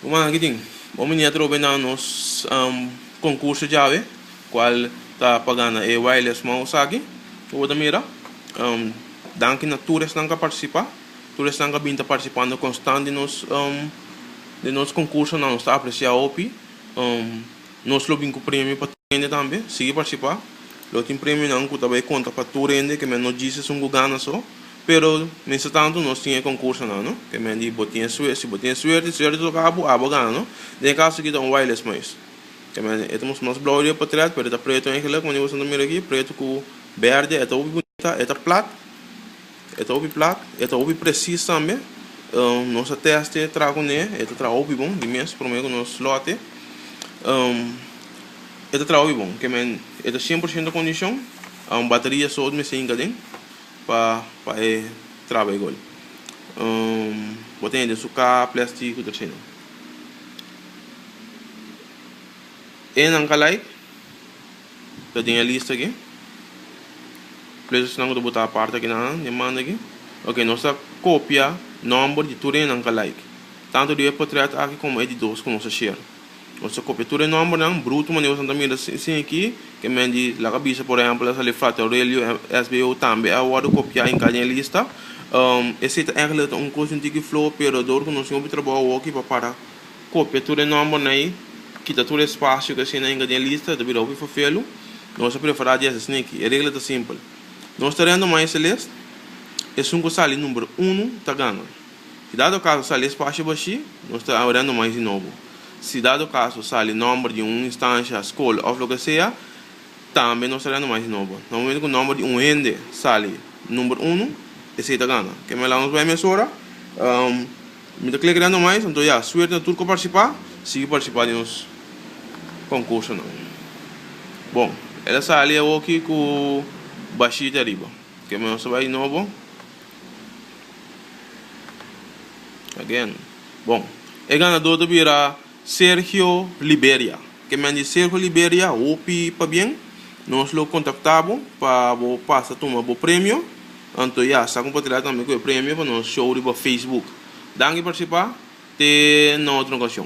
Ruman aki tin bon mania trobe na nos concurso djawe cual ta pa gana e wireless mouse esaki cu bo ta mira danki na tur esnan cu a participa tur esnan cu a bini ta participando constant den nos den nos concursonan nos ta aprecia hopi nos lo bini cu premio pa tur hende tambe sigi participa lo tin premionan cu ta bay conta pa tur hende que men no djis esun cu gana so. Pero mistertantu nos tin e concursonan no ke men di bo tin suerte si bo tin suerte suerte toca bo abo gana no den e caso aki ta un wireless mais ke men e ta mos mas blauw riba potret pero e ta preto en geluk manera boso ta mira aki preto cu berde e ta hopi bonita e ta plat e ta hopi plat e ta hopi precies tambe nos a teste traha cu ne e ta traha hopi bon di mes prome cu nos lote e ta traha hopi bon ke men e ta cien por ciento condicion bateria so mester hinca den. pa pa e traba e gol bo tene den su ka plesti ku ta trena e nan galaik ta den e lista aki playernan ku ta bota aparte aki nan e manda aki oke nos ta kopia nomber di tur e nan galaik tantu riba e potret aki komo e di dos ku nos a share Nos ta kopia tur e nòmbernan brutu manera nos ta mira sin aki. Ke men di laga bisa por ehèmpel a sali Frater Aurelio, SBO, tambe a wòrdu kopiá en Kanye lista. Esei ta ègla ta un kos di un tiki floho pero dor ku nos tin hopi trabou awoki pa para kopia tur e nòmbernan ei, kita tur e spasio ku asina en Kanye lista e ta bira hopi fafelu. Nos a prepará di hasi asin aki. E regla ta simpel. Nos ta rèndu mai Celeste, esun ku sali number unu ta gana. Si dado kaso sali espasio bashí, nos ta abrendo mais di nobo. Si dado kaso sali nòmber di un instansha, skol òf loke sea, tambe nos ta abrendo mais di nobo. Na momentu ku nòmber di un hende sali number unu, esei ta gana. Ke mester nos bai mesora. Mi ta klek rendo mais, anto ya, suerte na tur ku a partisipá. Sigui partisipá den nos konkursonan. Bon, el a sali awoki ku bashita riba. Ke mester nos ta bai di nobo. Again. Bon. E ganador ta bira Sergio Liberia. Ke men di Sergio Liberia, hopi pabien. Nos lo kontaktá bo pa bo pasa tuma bo premio. Anto ya, sa kompatriá tambe ku e premio pa nos show riba Facebook. Danki parsipá. Te na otro okashon.